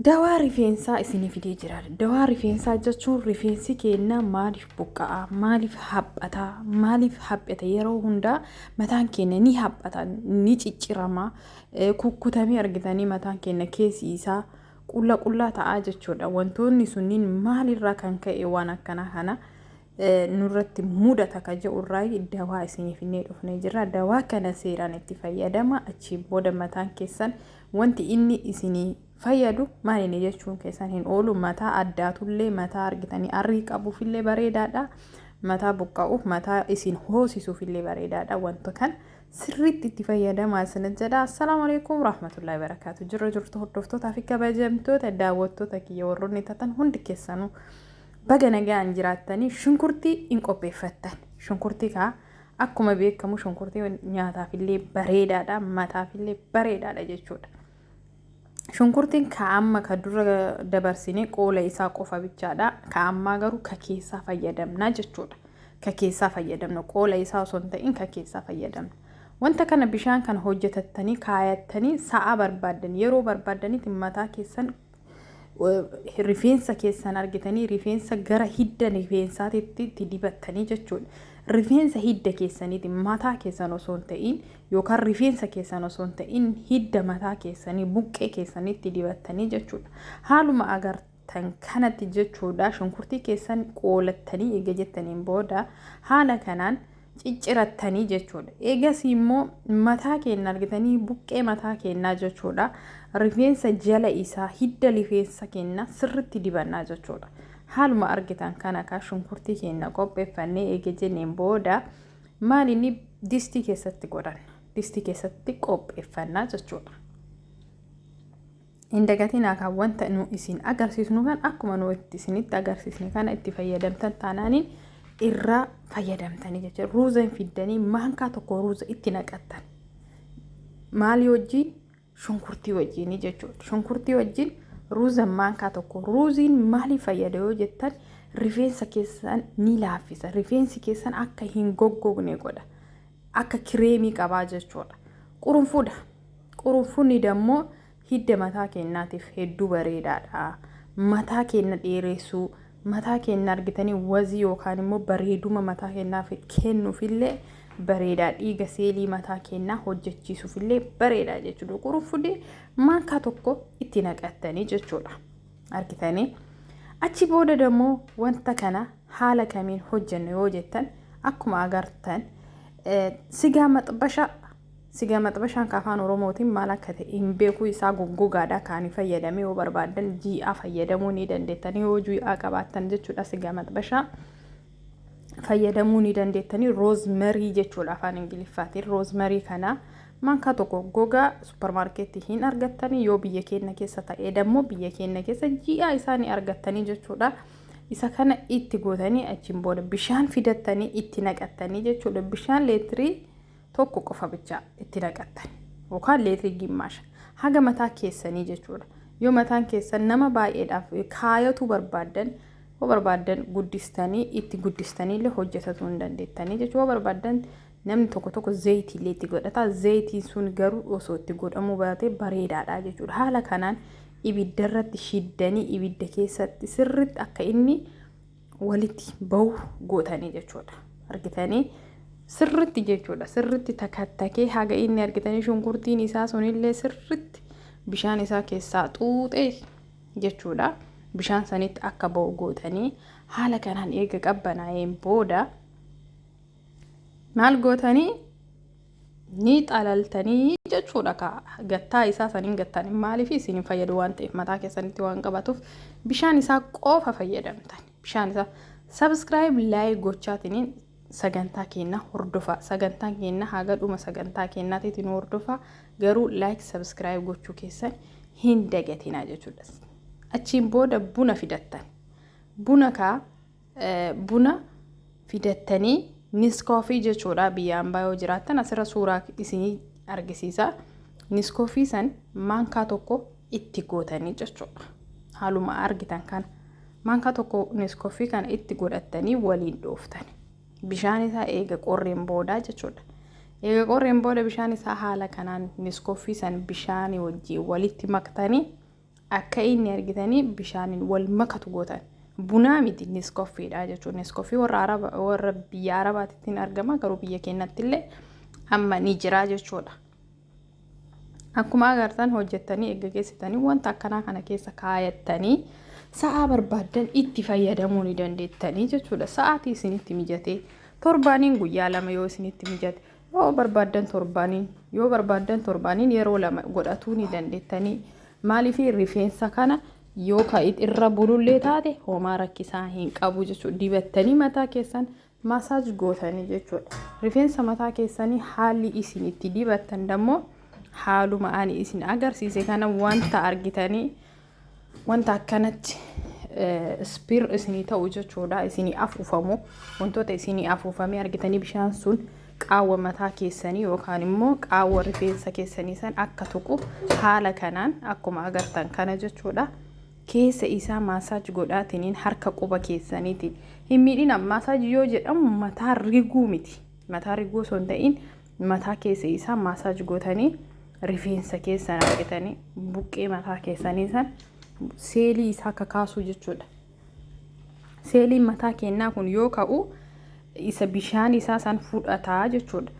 Dawaa rifeensaa isinii fidee jira. Dawaa rifeensaa jechuun rifeensi keenya maaliif buqqa'a? Maaliif haphata? Maaliif haphata? Yeroo hundaa mataan keenya ni haphata, ni ciccirama, kukkutamee argitanii mataan keenya keessi isaa qulla qullaa ta'aa jechuudha. Wantoonni sunniin maalirraa kan ka'e waan akkanaa kana nurratti mudata ka jedhu irraayi dawaa isinii finnee dhufnee jirra. Dawaa kana seeraan itti fayyadama. Achii booda mataan keessan wanti inni isinii fayyadu maal inni jechuun keessan hin oolu. Mataa addaatullee mataa argitanii arrii qabuufillee bareedaadha. Mataa buqqa'uuf mataa isin hoosisuufillee bareedaadha. Wanta kan sirriitti itti fayyadamaa isiniin jedha. Assalaamu alaikum rahmatullahi barakaatu. Jirra jirtu hordoftootaa fi kabajamtoota daawwattoota kiyya warroonni tatan hundi keessanuu. Baga nagaan jiraattanii shunkurtii in qopheeffattan. Shunkurtii kaa akkuma beekamu shunkurtii nyaataafillee bareedaadha, mataafillee bareedaadha jechuudha. Shunkurtiin ka amma ka dura dabarsine qoola isaa qofa bichaadha. Ka ammaa garuu ka keessaa fayyadamna jechuudha. Ka keessaa fayyadamna qoola isaa osoo hin ta'in ka keessaa fayyadamna. Wanta kana bishaan kana hojjetattanii kaayattanii sa'a barbaaddan yeroo barbaaddanitti mataa keessan rifeensa keessan argitanii rifeensa gara hidda rifeensaatitti itti dibattanii jechuudha. Rifeensa hidda keessaniiti mataa keessan osoo hin ta'in yookaan rifeensa keessan osoo hin ta'in hidda mataa keessanii buqqee keessanitti dibattanii jechuudha. Haaluma agartan kanatti jechuudha shunkurtii keessan qoolattanii eega jettaniin booda haala kanaan ciccirattanii jechuudha. Eegasii immoo mataa keenya argitanii buqqee mataa keenyaa jechuudha. Rifeensa jala isaa hidda rifeensa keenya sirritti dibannaa jechuudha. Haaluma argitan kana kaa shunkurtii keenya qopheeffannee eega jenneen booda maal inni distii keessatti godhanna. Distii keessatti qopheeffannaa jechuudha. Hin dagatinaa kaa wanta nu isin agarsiisnu kan akkuma nu itti isinitti agarsiisne kana itti fayyadamtan taanaaniin irraa fayyadamtanii jecha ruuza hin fiddanii maankaa tokko ruuza itti naqattan maalii wajjiin shunkurtii wajjiinii jechuudha shunkurtii wajjiin ruuza maankaa tokko ruuziin maalii fayyada yoo jettan rifeensa keessan ni laaffisa rifeensi keessan akka hin goggogne godha akka kireemii qabaa jechuudha qurunfuudha. Qurunfunni dammoo hidda mataa keennaatiif hedduu bareedaadha. Mataa keenna dheereessuu, mataa keenna argitanii wazii yookaan immoo bareeduma mataa keennaaf kennuufillee bareedaa dhiiga seelii mataa keennaa hojjechiisuufillee bareedaa jechuudha. Qurunfunni maankaa tokko itti naqattanii jechuudha. Argitanii achi booda dammoo wanta kana haala kamiin hojjenna yoo jettan akkuma agartan sigaa maxbashaa Sigaa maxbashaan ka afaan oromootiin maal akka ta'e hin beeku isaa goggogaadha ka ani fayyadame yoo barbaaddan jii'aa fayyadamuu ni dandeettanii yoo jii'aa qabaattan jechuudha sigaa maxbashaa fayyadamuu ni dandeettanii roozmarii jechuudha afaan ingiliffaatiin roozmarii kana mankaa tokko gogaa supparmaarkeetti hin argattanii yoo biyya keenya keessa ta'ee dammoo biyya keenya keessa jii'aa isaa ni argattanii jechuudha. isa kana itti gootanii achiin booda bishaan fidattanii itti naqattanii jechuudha bishaan leetirii tokko qofa bicha itti naqattan yookaan leetirii gimmaasha haga mataa keessanii jechuudha. Yoo mataan keessan nama baay'eedhaaf kaayatuu barbaaddan yoo barbaaddan guddistanii itti guddistanii illee hojjetatuu hin dandeettanii jechuudha. Yoo barbaaddan namni tokko tokko zayitii illee itti godhata. Zayitiin sun garuu osoo itti godhamuu baatee bareedaadha jechuudha. Haala kanaan ibidda irratti shiddanii ibidda keessatti sirriitti akka inni walitti bahu gootanii jechuudha. Argitanii sirritti jechuudha. Sirritti takattakee haga inni argitanii shunkurtiin isaa sunillee sirritti bishaan isaa keessaa xuuxee jechuudha. Bishaan sanitti akka bahu gootanii haala kanaan eega qabbanaa'een booda maal gootanii ni xalaltanii jechuudha ka gattaa isaa saniin gattan maaliif isin hin fayyadu waan ta'eef mataa keessanitti waan qabatuuf bishaan isaa qofa fayyadamtan bishaan isaa sabskiraayib laayik gochaatiniin sagantaa keenna hordofaa sagantaan keenna haga dhuma sagantaa keennaatiitiin hordofaa garuu laayik sabskiraayib gochuu keessan hin dagatinaa jechuudha achiin booda buna fidattan buna kaa Buna fidattanii niskoofii jechuudha biyya ambaa yoo jiraattan asirra suuraa isinii argisiisa. Niskoofii san maankaa tokko itti gootanii jechuudha. Haaluma argitan kana maankaa tokko niskoofii kana itti godhattanii waliin dhooftan. Bishaan isaa eega qorreen boodaa jechuudha. Eega qorreen booda bishaan isaa haala kanaan niskoofii san bishaanii wajjin walitti maktanii Akka inni argitanii bishaaniin wal makatu gootan. Bunaa miti niskoffiidha jechuun niskoffii warra araba warra biyya arabaatitti hin argama garuu biyya keenyatti illee amma ni jira jechuudha. Akkuma agartan hojjettanii eegga geessitanii wanta akkanaa kana keessa kaayattanii sa'aa barbaaddan itti fayyadamuu ni dandeettanii jechuudha. Sa'aatii isinitti mijatee torbaaniin guyyaa lama yoo isinitti mijate Yoo barbaaddan torbaaniin yoo barbaaddan torbaaniin yeroo lama godhatuu ni dandeettanii maaliif rifeensa kana yoo ka irra bulullee taate homaa rakkisaa hin qabu jechuudha dibattanii mataa keessan maasaaj gootanii jechuudha rifeensa mataa keessanii haalli isin itti dibattan dammoo haaluma ani isin agarsiise kana wanta argitanii wanta akkanatti ispiir isinii ta'u jechuudha isinii afuufamu wantoota isinii afuufamee argitanii bishaan sun qaawwa mataa keessanii yookaan immoo qaawwa rifeensa keessanii san akka tuqu haala kanaan akkuma agartan kana jechuudha keessa isaa maasaaj godhaatiniin harka quba keessaniitiin hin miidhina maasaaj yoo jedhamu mataa riguu miti mataa riguu osoo hin ta'in Mataa keessa isaa maasaaj gootanii rifeensa keessan argitanii buqqee mataa keessanii san seelii isaa kakaasuu jechuudha. Seeliin mataa keenyaa kun yoo ka'u isa bishaan isaa san fudhataa jechuudha.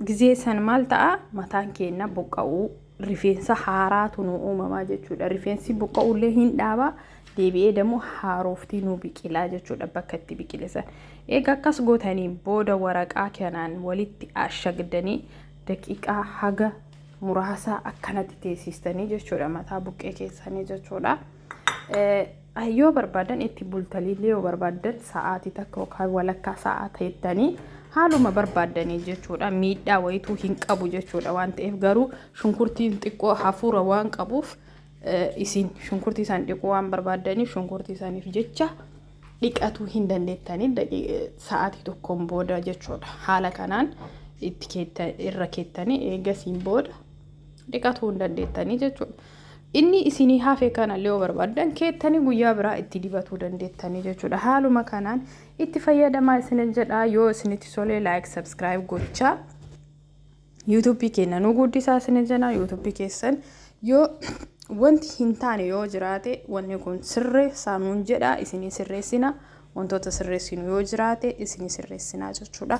Gizee san maal ta'a mataan keenyaa buqqa'uu rifeensa haaraatu nu uumamaa jechuudha. Rifeensi buqqa'ullee hin dhaaba deebi'ee dammoo haarooftii nu biqilaa jechuudha bakka itti biqilisan. Egaa akkas gootanii booda waraqaa kanaan walitti ashagdanii daqiiqaa haga muraasaa akkanatti teessistanii jechuudha mataa buqqee keessanii jechuudha. yoo barbaadan itti bultaniillee yoo barbaadan sa'aatii takka yookaan walakkaa sa'aa teettanii haaluma barbaaddanii jechuudha miidhaa wayituu hin qabu jechuudha waan ta'eef garuu shunkurtiin xiqqoo hafuura waan qabuuf isin shunkurtii isaan dhiquu waan barbaaddaniif shunkurtii isaaniif jecha dhiqatuu hin dandeettanii sa'aatii tokkoon booda jechuudha haala kanaan itti irra keettanii eegasiin booda dhiqatuu hin dandeettanii jechuudha. Inni isinii hafe kana le yoo barbaaddan keettanii guyyaa biraa itti dibatuu dandeettanii jechuudha. Haaluma kanaan itti fayyadamaa isinin jedhaa yoo isinitti solee like subscribe gochaa YouTube keenya nu guddisaa isinin jenaa YouTube keessan yoo wanti hin taane yoo jiraate wanni kun sirre saanuun jedhaa isinii sirreessina wantoota sirreessinu yoo jiraate isinii sirreessinaa jechuudha.